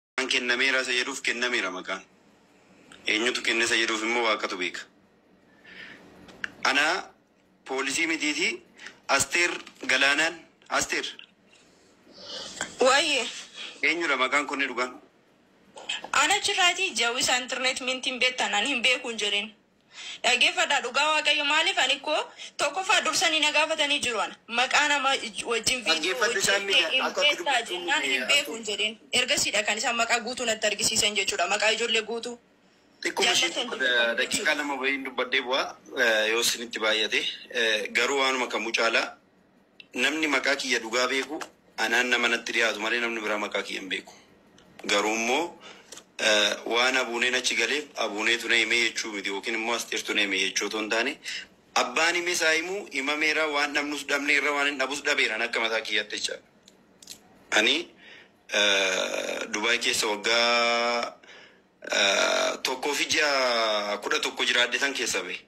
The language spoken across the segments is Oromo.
Maqaan kennameera isa jedhuuf kennameera maqaan. Eenyutu kenne isa jedhuuf immoo Waaqatu beeka. Ana poolisii mitiiti Asteer Galaanaan Asteer Waayee. eenyudha maqaan kunni dhugaan? Ana chirraati jawisa internet mintin betan an hin beekun jedhin. Dhaggeeffadhaa dhugaa waaqayyo maaliif ani koo tokkoffaa dursanii na gaafatanii jiru ana maqaa nama wajjin viidiyoo hojjettee hin beektaa jennaan hin beeku hin jedhin ergasiidha kan isaan maqaa guutuu natti argisiisan jechuudha maqaa ijoollee guutuu daqiiqaa lama wayiin dubbadhee bu'aa yoo isinitti baay'ate garuu waanuma kamuu caalaa Namni maqaa kiyya dhugaa beeku anaan nama natti dhihaatu malee namni biraa maqaa kiyya hin beeku. Garuu immoo waan Abuuneen achi galeef Abuuneetu na hime jechuu miti yookiin immoo Asteertu na hime jechuu otoo hin taane abbaan himes haa himu himameera waan dhabnus dhabneerra waanin dhabus dhabeera ani akka mataa kiyyaatti jechaadha. Ani Dubaay keessa waggaa tokkoo fi ji'a kudha tokko jiraadhetan keessaa bahe.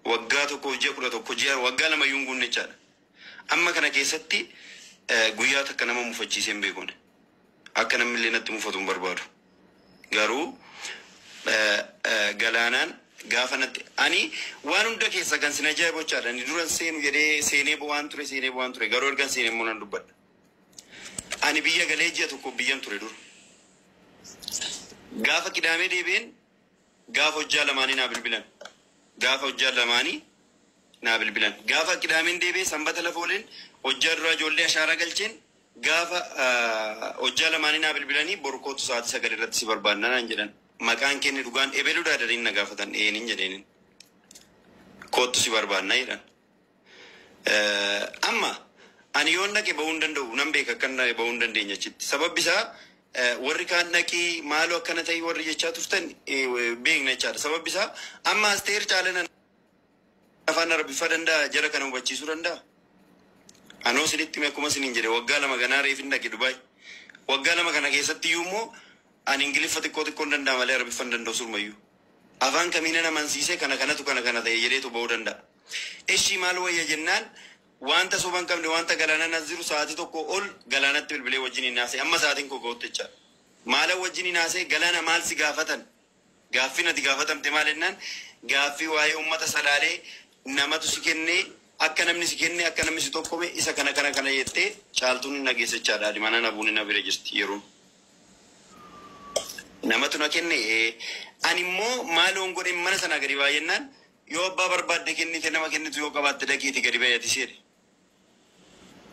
Waggaa tokkoof ji'a 11 GR waggaa lama iyyuu hin guunne jechaadha. Amma kana keessatti guyyaa takka nama mufachiisee hin beeku ani. Akka namni illee natti mufatu hin barbaadu. Garuu galaanaan gaafa natti ani waan hunda keessa kan sin ajaa'ibu jechaadha. Ani duran seenu jedhee seenee bo'aan ture seenee bo'aan ture garuu ergan seene immoo nan dubbadha. Ani biyya galee ji'a tokkoof biyyan ture dura. Gaafa qidaamee deebi'een Gaafa hojjaa lamaanii naa bilbilan Gaafa hojjaa lamaanii naa bilbilan Gaafa qidaameen deebi'e sanbata lafa oleen hojjaa duraa ijoollee ashaaraa galcheen Gaafa hojjaa lamaanii naa bilbilanii Bor kootu sa'aatii sagal irratti si barbaanna naan jedhan Maqaan kee inni dhugaan Ebeludhaa jedhanii na gaafatan Eeenin jedheenin Koottu si barbaanna jedhan Amma ani yoon dhaqe ba'uu hin danda'u, nan beeka akkan dhaqe ba'uu hin dandeenye achitti. Sababbi isaa warri kaan dhaqii maaloo akkana ta'ii warri jechaa turtan beekna jechaadha. Sababbi isaa amma Asteer Caalana afaan Arabiffaa danda'a jara kana hubachiisuu danda'a. Anoo isinitti hime akkuma isiniin jedhe waggaa lama ganaa reefin dhaqe Dubaay. Waggaa lama kana keessatti iyyuu immoo ani Ingiliffa xiqqoo xiqqoon danda'a malee Arabiffa hin danda'u surmayyuu. Afaan kamiinan amansiisee kana kanatu kana kana ta'e jedheetu ba'uu danda'a. Eshii maal wayya jennaan waanta soba hin qabne waanta galaanan as jiru sa'aatii tokkoo ol galaanatti bilbilee wajjiniin haasa'e amma sa'aatiin koo ga'utti jechaadha. Maalan wajjiniin haasa'e galaana maal si gaafatan gaaffiin ati gaafatamte maal jennaan gaaffii waa'ee uummata salaalee namatu si kenne akka namni si kenne akka namni si tokkome isa kana kana kana jettee caaltuun hin dhageessa jechaadha adimanaa nabuuni na bira jirti yeroon. Namatu na kenne ee ani immoo maaloon godhe mana sanaa gadi baa jennaan Yoo abbaa barbaadde kennite nama kennitu yoo qabaatte dhaqiiti gadi ba'i atis jedhe.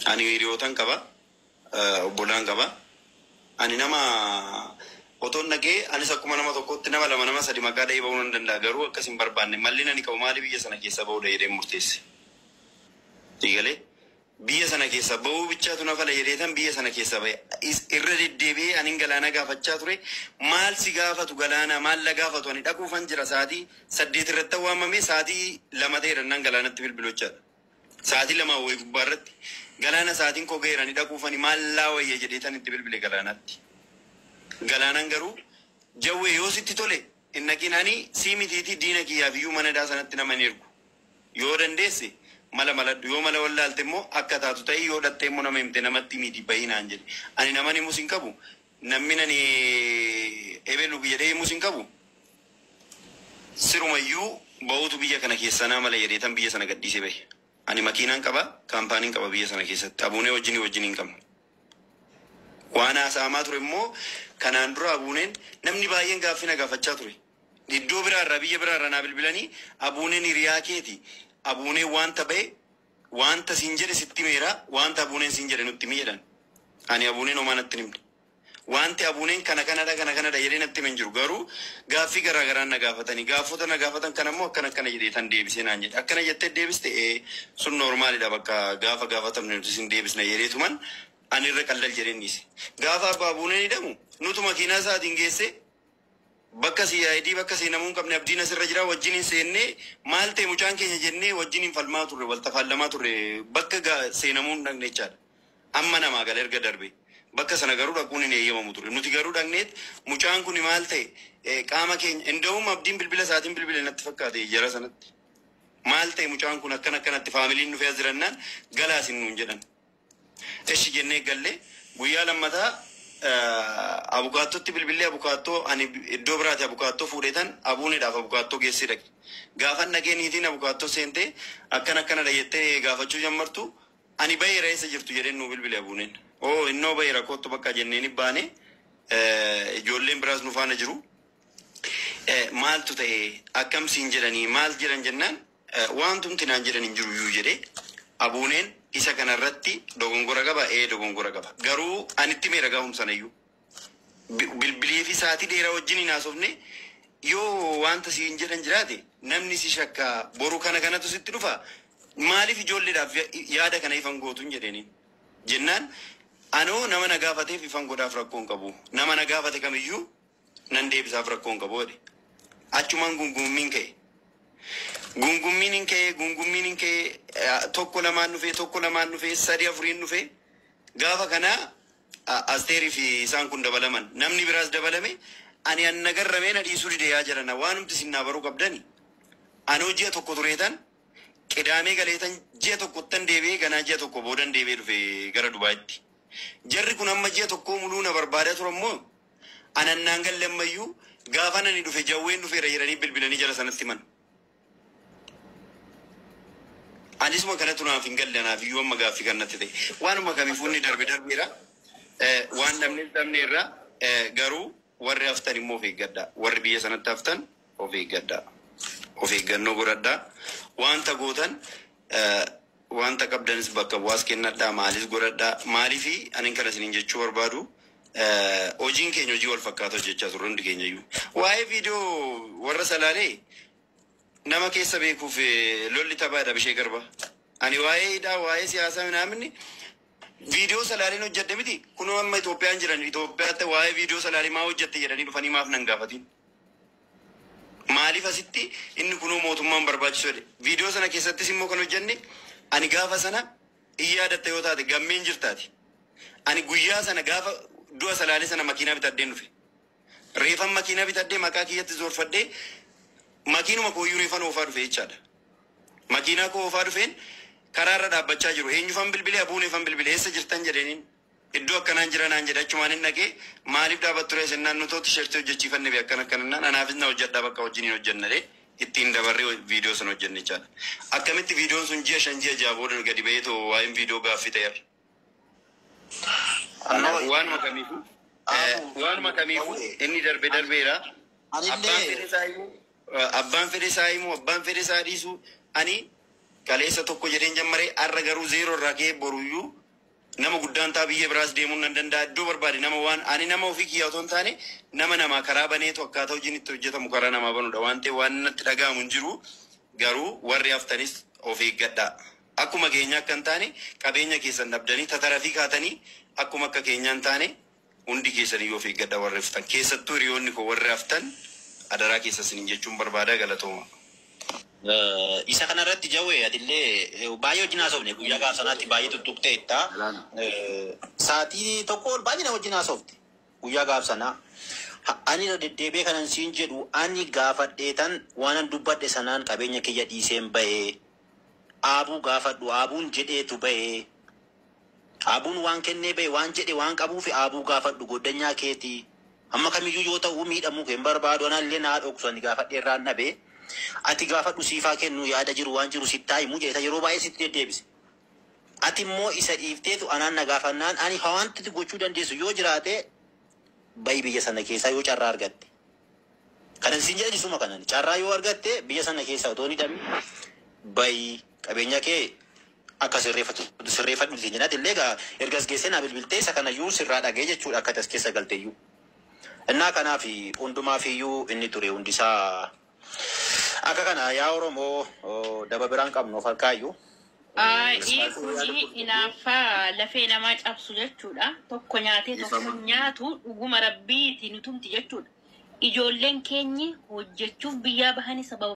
Ani hiriyootan qaba. Obbolaan qaba. Ani nama otoon dhaqee anis akkuma nama tokkootti nama lama nama sadi maqaa dha'ee ba'uu nan danda'a garuu akkas hin barbaanne. Mallin ani qabu maali biyya sana keessaa ba'uudha jedheen murteesse. Sii galee? Biyya sana keessaa ba'uu bichaatu na fala jedheetan biyya sana keessaa ba'e. Is, irra deddeebi'ee anin Galaanaa gaafachaa ture. Maal si gaafatu Galaanaa? Maal na gaafatu? Ani dhaquufan jira sa'aatii saddeet irrattan waamame sa'aatii lama ta'eera innaan Galaanatti bilbilu jechaadha. Sa'aatii lamaa wayi gubbaa irratti Galaana sa'aatiin koo ga'eera ani dhaquufani maal naa wayya jedheetan itti bilbile Galaanaatti. Galaanaan garuu Jawwee yoo sitti tole Hin dhaqin ani sii mitiitii diina kiyyaaf iyyuu mana hidhaa sanatti nama hin ergu. Yoo dandeesse mala maladhu. Yoo mala wallaalte immoo akka taatu ta'i. Yoo dhaqxee immoo nama himte namatti himiitii bahi naan jedhe. Ani naman himus hin qabu. Nammin ani ebelu jedhee himus hin qabu. Siruma iyyuu bahuutu biyya kana keessaa naa mala jedheetan biyya sana gadhiisee bahe. Ani makiinaan qaba, kaampaanin qaba biyya sana keessatti. Abuunee wajjin wajjin hin qabna. Waan haasa'amaa ture immoo kanaan dura Abuuneen namni baay'een gaaffii na gaafachaa ture. Iddoo biraa irraa, biyya biraa irraa naa bilbilanii Abuuneen hiriyaa keeti, Abuuneen waanta ba'e, waanta siin jedhe sitti himeera, waanta Abuuneen siin jedhe nutti himi jedhan. Ani Abuuneen homaa natti hin himne. Waanti Abuuneen kana kanadha kana kanadha jedhee natti hime hin jiru. Garuu gaaffii garaa garaan na gaafatani. Gaaffota na gaafatan kana immoo akkana akkana jedheetan deebisee naan jedhe. Akkana jettee deebiste? Ee, sun noormaalidha bakka gaafa gaafatamne nutis hin deebisna jedheetuman ani irra qaldal jedheen dhiise. Gaafa Abbaa Abuuneen hidhamu nutu makiinaa isaatiin geessee. Bakka CID bakka seenamuu hin qabne Abdiin asirra jira wajjin hin seenne maal ta'e mucaan keenya jennee wajjiniin falmaa turre wal tafaallamaa turre bakka ga seenamuu hin dhaqne jechaadha. Amma namaa gala erga darbee. Bakka sana garuu dhaquun hin eeyyamamu ture. Nuti garuu dhaqneet mucaan kuni maal ta'e eh, qaama keenya inda'uum Abdiin bilbila isaatiin bilbile natti fakkaate jara sanatti. Maal ta'e mucaan kun akkana akkanatti faamiliin dhufee as jirannaan galaa isin nuun jedhan. Eshi jennee galle. Guyyaa lammataa abukaattootti bilbillee abukaattoo ani iddoo biraati abukaattoo fuudheetan Abuuneedhaaf abukaattoo geessii dhaqe. Gaafan dhaqee niitiin abukaattoo seentee akkana akkanadha jettee gaafachuu jammartu ani baheera eessa jirtu jedheen nuu bilbile Abuuneen. Oo innoo baheera koottu bakka jenneeni baane ijoolleen biraas nu faana jiru. Maaltu ta'e akkam siin jedhanii maal jedhan jennaan Waantumti naan jedhan hin jiruyyuu jedhe. Abuuneen isa kana irratti dogongora qaba? Ee dogongora qaba. Garuu ani itti himeera gaafuma sanayyuu. Bi- Bilbilee fi sa'aatii dheeraa wajjin hin haasofne yoo wanta siin jedhan jiraate namni si shakka boru kana kanatu sitti dhufa maaliif ijoolleedhaaf ya- yaada kana ifan gootuun jedheeni. Jennaan anoo nama na gaafateef ifan godhaaf rakkoo hin qabu. Nama na gaafate kamiyyuu Nan deebisaaf rakkoo hin qabu jedhe. Achumaan gungummiin ka'e. Gungummiin hin ka'ee gungummiin hin ka'ee eh, tokko lamaan dhufee tokko lamaan dhufee sadii afuriin dhufee gaafa kana a- asteerii fi isaan kun dabalaman namni biraas dabalame ani an nagarramee na dhiisuu dide yaa jarana waanumti isin naa baruu qabdani anoo ji'a tokko tureetan qidaamee galeetan ji'a tokkottan deebi'ee ganaa ji'a tokko boodan deebi'ee dhufe gara dubaayitti jarri kun amma ji'a tokkoo muluu na barbaadaa turan moo Anan naan galle ammayyuu gaafan ani dhufe jawween dhufeera jedhanii bilbilanii jara sanatti himan. Anisuma kanatu naaf hin galle anaaf iyyuu amma gaaffii kan natti ta'e. Waanuma kamiifuu inni darbe darbeera. Eh, Waan dhabne dhabneerra Eh, garuu warri haftan immoo of eeggadhaa. Warri biyya sanatti haftan of eeggadhaa. Of eeggannoo godhadhaa. Wanta gootan Wanta qabdanis bakka bu'aas kennadhaa, maalis godhadhaa. Maaliif anin kana isiniin jechuu barbaadu, hojiin keenya hojii wal fakkaata hojjechaa turre hundi keenya iyyuu. Waa'ee viidiyoo warra Salaalee nama keessa beekuuf lolli taphaa jedha Abishee Garba. Ani waa'ee hidhaa, waa'ee siyaasaa minaamin viidiyoo Salaaleen hojjedhe miti. Kunoo amma Itoophiyaan jiran Itoophiyaatti waa'ee viidiyoo Salaalee maa hojjette jedhanii dhufanii maaf nan gaafatiin? Maaliif asitti inni kunoo mootummaan barbaachisu jedhe. Viidiyoo sana keessattis immoo kan hojjenne ani gaafa sana in yaadatta yoo taate gammee in jirta ati. Ani guyyaa sana gaafa du'a Salaalee sana makiinaa bitadheen dhufe. Reefan makiinaa bitadhee maqaa kiyyatti zoorfadhee makiinuma kooyyuu reefan oofaa dhufe jechaadha. Makiinaa koo oofaa dhufeen karaa irra dhaabbachaa jiru. Eenyufan bilbile? Abuuneefan bilbile. Eessa jirtan jedheeniin. Iddoo akkanaan jira naan jedhe achumaanin dhaqe maaliif dhaabatturee sennaan nutoo tishertii hojjechiifanne bee akkana akkana naan anaafis na hojjedhaa bakka wajjiniin hojjenna jedhee ittiin dabarre viidiyoo sana hojjenne jechaadha. Akkamitti viidiyoon sun ji'a shan ji'a ja'a booda gadi ba'eetoo waa'een viidiyoo gaaffii ta'e har'a. Kanaaf Anoo waanuma kamiifuu eh, Aabuu waanuma kamiifuu Dawwee inni darbe ani darbeera. Abbaan anillee fedhe isaa immoo eh, abbaan fedhe isaa immoo abbaan fedhe isaa dhiisu ani kaleessa tokko jedheen jammaree har'a garuu zeeroo irraa ka'ee boruyyuu Nama guddaan ta'a biyya biraas deemuun nan danda'a iddoo barbaade nama waan ani nama ofii kiyyaa otoo hin taane nama namaa karaa baneetu akkaataa hojiin itti hojjetamu karaa namaa banuudha waan ta'eef waan natti dhaga'amu hin jiru garuu warri haftanis of eeggadhaa akkuma keenyaa akka hin taane qabeenya keessan dhabdanii tatarafii kaatanii akkuma akka keenyaa hin taane Hundi keessaniyyuu of eeggadhaa warri hftan keessattuu hiriyoonni koo warri haftan adaraa keessan sinin jechuun barbaada galatoomaa. Isa kana irratti Jawee atillee baay'ee wajjin haasofne guyyaa gaaf sanaatti baay'ee tuttuqteetta. Saatii tokko ol baay'ee na wajjin haasofte guyyaa gaaf sanaa. Ani irra deddeebi'ee kanan siin jedhu ani gaafadheetan waanan dubbadhe sanaan qabeenya kiyya dhiiseen ba'e. Aabuu gaafadhu Aabuun jedheetu ba'e. Aabuun waan kennee bahe waan jedhe waan qabuufi Aabuu gaafadhu gooddanyaa keeti hamma kamiyyuu yoo ta'uu miidhamuu kee hin barbaadu anallee naa dhoksu ani gaafadhee irraan dhabe ati gaafadhu siif haa kennu yaada jiru waan jiru sitti haa himu jedheta yeroo baay'ee sitti deddeebise ati immoo isa dhiifteetu anaan na gaafannaan ani hawaanti gochuu dandeessu yoo jiraate bahi biyya sana keessaa yoo carraa argatte. Kanan siin jedhani suma kanani carraa yoo argatte biyya sana keessaa otoo hin hidhamin bahi qabeenya kee akka sirreeffattu sirreeffadhu siin jedhan illee egaa erga as geessee naa bilbiltee isa kana iyyuu sirraa dhaga'ee jechuudha akka ati as keessa galte iyyuu. Innaa kanaaf hundumaaf iyyuu inni ture hundi isaa akka kana yaa Oromoo daba biraan qabnu of harkaa iyyuu Ayi kuni inaaffa lafee namaa cabsu jechuudha tokko nyaatee tokko hin nyaatu dhuguma rabbiiti nu tumti jechuudha ijoolleen keenyi hojjechuuf biyyaa bahani sababa